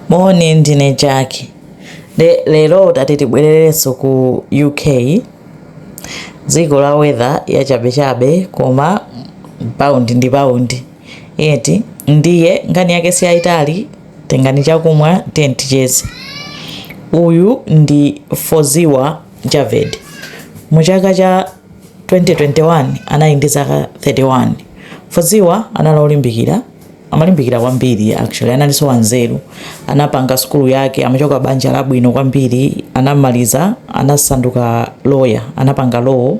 Moni ndine Jackie. Nde lero tati tibwererenso ku UK. Dziko la weather yachabechabe koma paundi ndi paundi. Eti ndiye nkhani yake si yaitali tengani chakumwa tiyeni ticheze. Uyu ndi Foziwa Javed. Mu chaka cha 2021 anali ndi zaka 31. Foziwa anali olimbikira amalimbikira kwambiri actually analinso wanzeru anapanga sukulu yake amachoka banja labwino kwambiri anamaliza anasanduka lawyer anapanga law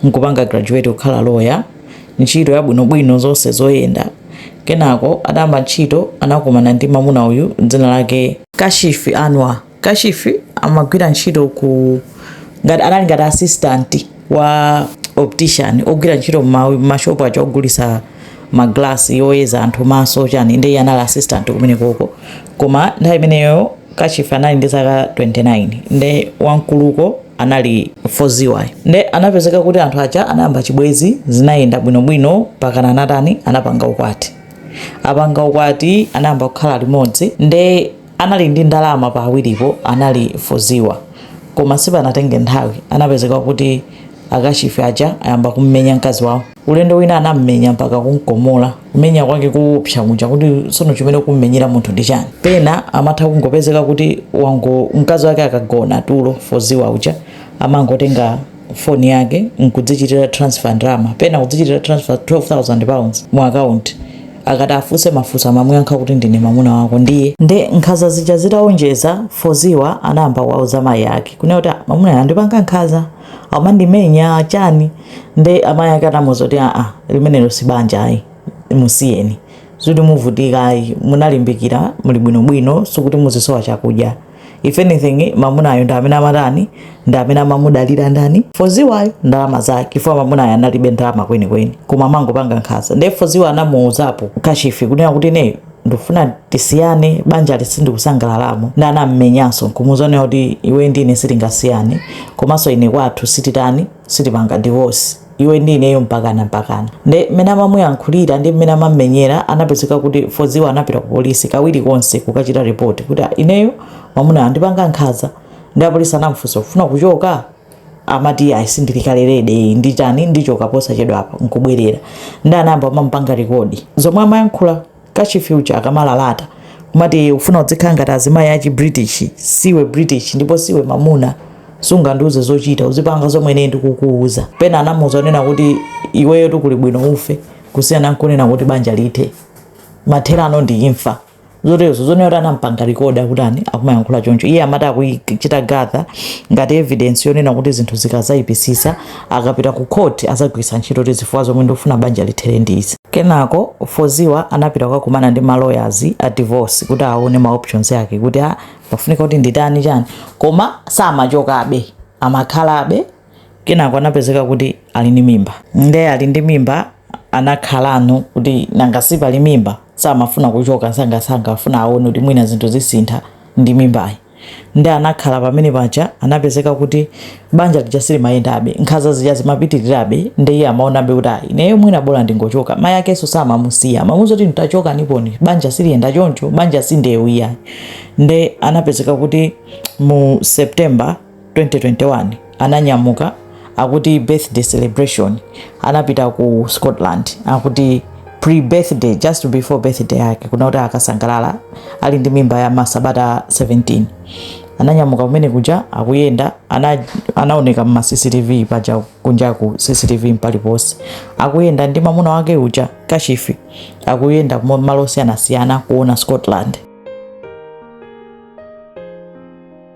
nkupanga graduate kukhala lawyer ntchito yabwinobwino zonse zoyenda kenako atayamba ntchito anakumana ndi mamuna uyu dzina lake kashifi anwa Kashifi amagwira ntchito ku ngati anali ngati assistant wa optician ogwira ntchito m'mashopu aja ogulisa maglasi yoyeza anthu maso chani ndiye anali assistant kumene koko koma nthawi imeneyo Kashifi anali ndi zaka 29 nde wankuluko anali foziwa nde anapezeka kuti anthu aja anayamba chibwezi zinayenda bwinobwino mpakana anatani anapanga ukwati atapanga ukwati anayamba kukhala limodzi nde Anali ndi ndalama pa awiripo anali Foziwa koma sipanatenge nthawi anapezeka kuti a Kashifi aja ayamba kummenya mkazi wawo. Ulendo wina anammenya mpaka kumkomola, kumenya kwake koopsa kuja kuti tsono chimene ukummenyera munthu ndi chani? Pena amatha kungopezeka kuti wango mkazi wake akagona tulo Foziwa uja amangotenga. phone yake nkudzichitira transfer ndalama pena kudzichitira transfer 12000 pounds mu account akati afunse mafunso amamuyankha kuti ndine mamuna wako ndiye nde nkhanza zija zitaonjeza foziwa anayamba kuwauza mayi ake kunena kuti "Ah, mamuna anga akundipanga nkhanza amandimenya chani nde amayi ake anamuuza kuti aa limenelo si banja ayi musiyeni sizoti muvutika ayi munalimbikira muli bwinobwino sikuti muzisowa chakudya if anything mamunayo ndi amene amatani ndi amene amamudalira ndani foziwayo ndalama zake chifukwa mamunayo analibe ndalama kwenikweni koma amangompanga nkhanza ndiye foziwa anamuuzapo kashifi kunena kuti ineyo ndifuna tisiyane banjali sindikusangalalamo nde anammenyanso nkumuuza kunena kuti iwe ndi ine sitingasiyane komanso ine kwathu sititani sitipanga divorce iwe ndi ineyo mpakana mpakana. Nde mmene amamuyankhulira ndi mmene amammenyera anapezeka kuti Foziwa anapita ku polisi kawiri konse kukachita report kuti ah, ineyo mamunayo akundipanga nkhanza nde apolisi anamfunsa ukufuna kuchoka amati ayi sindili kaye ready nditani ndichoka posachedwapa nkubwerera nde anayamba amamupanga rekodi zomwe amayankhula Kashifi uja akamalalata kumati ufuna udzikhala ngati azimayi achi British siwe British ndipo siwe mamuna sungandiuze zochita uzipanga zomwe ine ndikukuuza. Pena anamuuza onena kuti iweyo tukuli bwino ufe kusiyana nkunena kuti banja lithe. Mathera ano ndi imfa. zotezo zonena kuti anampanga record kuti akumayankhula choncho iye amati akuchita gather ngati evidence yonena kuti zinthu zikazaipisisa akapita ku court azagwiritsa ntchito ti zifukwa zomwe ndikufuna banja lithere ndi izi kenako foziwa anapita kukakumana ndi ma lawyers a divorce kuti aone ma options yake kuti a ah, pafunika kuti nditani chani koma samachokabe amakhalabe kenako anapezeka kuti ali ndi mimba nde ali ndi mimba anakhalano kuti nanga si pali mimba samafuna kuchoka sangasanga afuna aone kuti mwina zinthu zisintha ndi mimbayi Nde anakhala pamene paja anapezeka kuti banja lija silimayendabe, nkhanza zija zimapitilirabe nde iye amaonabe kuti ayi ineyo mwina bola ndingochoka, mai akenso samamusiya amamuuza kuti ntachokaniponi banja siliyenda choncho, banja si ndeu iyayi. Nde anapezeka kuti mu September, 2021 ananyamuka akuti birthday celebration anapita ku scotland akuti pre-birthday just before birthday yake kuna kuti akasangalale ali ndi mimba ya masabata 17 ananyamuka kumene kuja akuyenda ana, anaoneka mma cctv paja kunja ku cctv mpaliponse akuyenda ndi mamuna wake uja kashifi akuyenda kumo- malo osiyanasiyana kuona scotland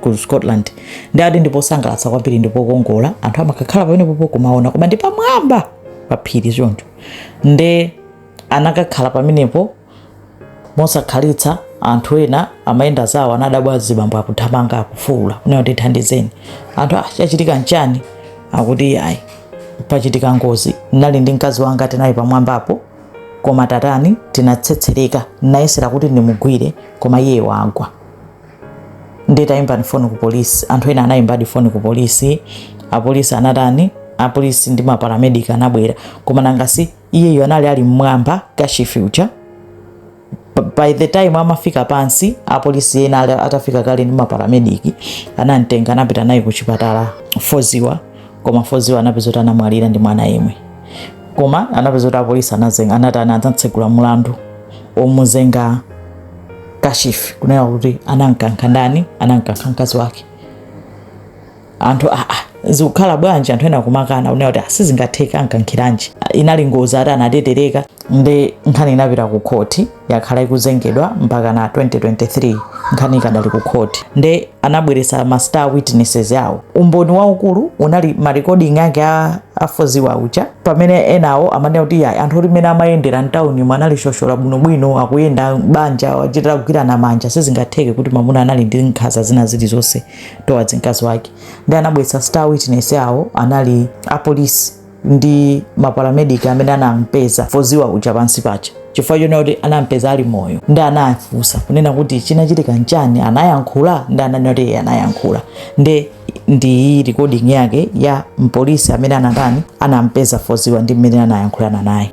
ku scotland ndi adi ndi posangalatsa kwambiri ndi pokongola anthu amakakhala pamenepopo kumaona koma ndi pamwamba pa phiri choncho nde anakakhala pamenepo mosakhalitsa anthu ena amayenda zawo anadabwa azibambo akuthamanga akufuula kunena kuti thandizeni anthu chachitika ah, nchani akuti ayi pachitika ngozi ndinali ndi mkazi wanga tinali pamwambapo koma tatani tinatsetsereka nayesera kuti ndimugwire koma iye wagwa nditayimbani foni ku polisi anthu ena anayimbadi foni ku polisi apolisi anatani apolisi ndi maparamedic anabwera koma nangasi iyeyo anali ali mmwamba kashifi uja by the time amafika pansi apolisi ena atafika kale ndi maparamedic anamtenga anapita naye ku chipatala foziwa koma foziwa anapeza kuti anamwalira ndi mwana yemwe koma anapeza kuti apolisi anazenga anatani anatsegula mulandu omuzenga kashifi kunena kuti anamkankha ndani anamkankha mkazi wake anthu aa ah, ah, zikukhala bwanji anthu ena kumakana kunena kuti ah, sizingatheke amkankhiranji inali ngozi ati anatetereka nde nkhani inapita ku khoti yakhala ikuzengedwa mpaka na 2023 nkhani ikadali ku khoti nde anabweresa ma star witnesses awo umboni waukulu unali marekoding ake a a Fawziyah uja pamene enawo amanena kuti ya anthu oti mene amayendera mtawuni mwe anali shoshola bwinobwino akuyenda banja achitira kugwirana manja sizingatheke kuti mamuna anali ndi nkhaza zina zilizonse towards mkazi wake ndi anabwetsa star witness awo anali apolisi ndi maparamedic amene anampeza Fawziyah uja pansi paja chifukwa chonena kuti anampeza ali moyo ndi anafunsa kunena kuti chinachitika nchani anayankhula ndi ananena kuti iye anayankhula ndi ndi recording yake ya mpolisi amene anatani anampeza Fawziyah ndi mmene anayankhulana naye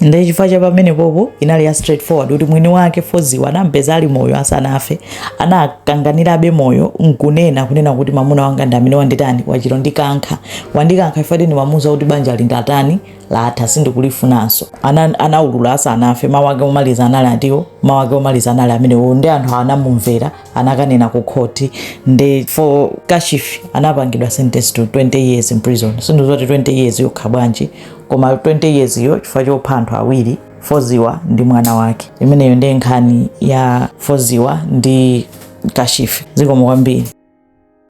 nde chifukwa cha pamenepopo inali ya straightforward kuti mwini wake Fawziyah anampeza ali moyo asanafe anakanganirabe moyo nkunena kunena kuti mamuna wanga ndi amene wanditani wachita kundikankha wandikankha after ndimamuza kuti banja lindatani latha sindikulifunanso Ana- anaulula asanafe mawu ake omaliza anali atiwo mawu ake omaliza anali amenewo ndi anthu anamumvera anakanena ku khoti nde for Kashif anapangidwa sentence to 20 years in prison sindizoti 20 years yokha bwanji koma 20 years yo chifukwa chopha anthu awiri Fawziyah ndi mwana wake imeneyo ndiye nkhani ya Fawziyah ndi Kashif zikomo kwambiri